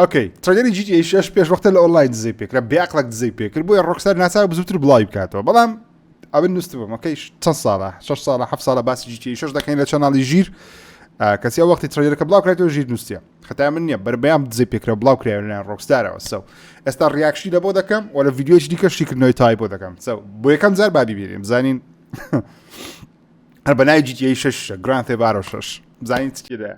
ئۆکەی تڕەیلەری جی تی ئەی شەش پێش وەختە لە ئۆنڵاین دزەی پێکرا بێعەقڵەک دزەی پێکرد بۆیە ڕۆکستار ناچار بوو زووتر بڵاوی بکاتەوە بەڵام ئەمن نووسبم ئۆکەی چەند ساڵە شەش ساڵە هەفت ساڵە باسی جی تی ئەی شەش دەکەین لە چەناڵی ژیر کەسی ئەو وەختی تڕەیلەرەکە بڵاو کرێتەوە ژیر نووسە خەتای من نییە بەربەیان دزەی پێکرا بڵاو کرایە لەلایەن ڕۆکستارەوە سەو ئێستا ڕیاکشی لە بۆ دەکەم و لە ڤیدیۆیی دیکە شیکردنەوەی تای بۆ دەکەم سەو بۆ یەکەم جار بابی بینیم زانین هەر بەنای جی تی ئەی شەش گران تێبارۆ شەش زانین چی دەیە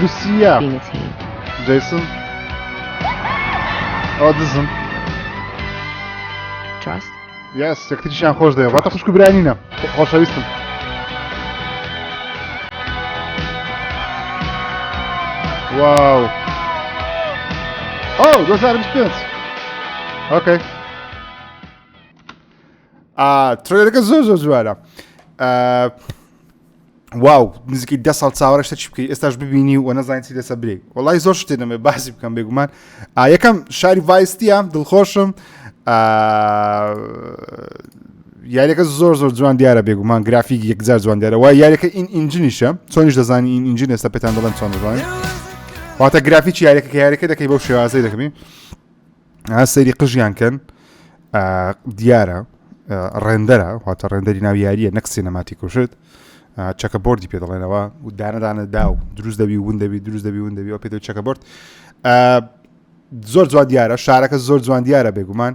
لوسیا جیسن ئەو دزم یاس یەکتریشیان خۆش دەێ واتە خوشک برانینە خۆشەویستم واو ئەو 2025 ئۆکەی ترێلەکە زۆر زۆر جوارە واو نزیکی ده ساڵ چاوەڕشتە چی بکەی ئێستاش ببینی و نەزانین چی دەسە برێک وڵی زۆر شتێ دەمێ باسی بکەم بێگومان یەکەم شاری ڤایستیە دڵخۆشم یاریەکە زۆر زۆر جوان دیارە بێگومان گرافیک یەکجار جوان دیارە وای یاریەکە این ئینجنیشە چۆنیش دەزانانی این ئینجین ئێستا پێتان دەڵێن چۆن دەزانین واتە گرافیکی یاریەکە یاریەکە دەکەی بەو شێوازەی دەکەین ئا سەیری قژیان کەن دیارە ڕێندەرە واتە ڕێندەری ناو یاریە نەک سینەماتی کوشت چەکە بردی پێ دەڵێنەوە و دانەدانە دا و دروست دەبی ون دەبی دروست دەبی ون دەبی و پێ چەکە برد زۆر جوان دیارە شارەکە زۆر جوان دیارە بێگومان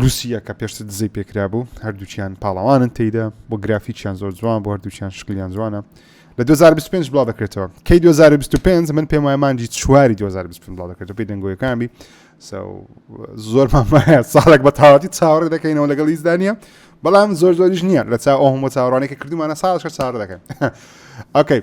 لوسیە کە پێشتر دزەی پێکرا بوو هەردووچیان پاڵەوانن تێیدا بۆ گرافیکیان زۆر جوان بۆ هەردووچیان شکلیان جوانە لە 2025 بڵاو دەکرێتەوە کەی 2025 من پێم وای مانجی چواری 2025 بڵاو دەکرێتەوە پێی دەنگۆیەکانبی زۆر مامایە ساڵێک بە تاواتی چاوەڕێ دەکەینەوە لەگەڵ ئیزدانە بەڵام زۆر زۆریش نییە لە چا ئەو هەموو چاوەڕانێکە کردومانە ساڵش چاڕ دەکەن ئۆکەی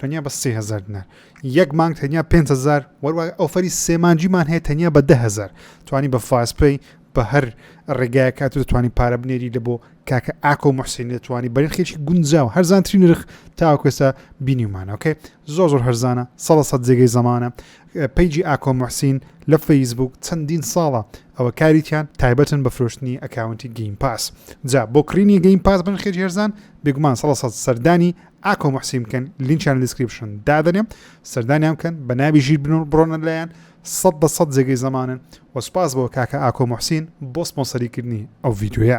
تەنیا بە سێ هەزار دینار یەک مانگ تەنیا پێ هزار وەروای ئەوفەری سێمانجیمان هەیە تەنیا بە ده هزار توانی بە فاسپی بە هەر ڕێگایە کات و دەتوانانی پارە بنێری لە بۆ کاکە ئاکۆ و محسین دەتوانانی بەرین خێکی گونجا و هەرزانتری نرخ تاوکوێستا بینیمانەکەی زۆر زۆر هەرزانە سە سە جێگەی زمانە پیجی ئاکۆ محسین لە فەیسبوک چەندین ساڵە ئەوە کاریتیان تایبەتن بە فرۆشتنی ئەکاونتی گەیم پاس جا بۆ کڕینی گەیم پاس بن خێجێرزان بێگومان سە سەدانی ئاکۆ موحسین بکەن لینچیان دیسکریپشن دادەنێم سەردانیان بکەن بە ناوی ژیر بنون بڕۆنە لایەن سەد بە سەد جێگەی زەمانن و سوپاس بۆ کاکە ئاکۆ موحسین بۆ سپۆنسەریکردنی ئەو ڤیدیۆیە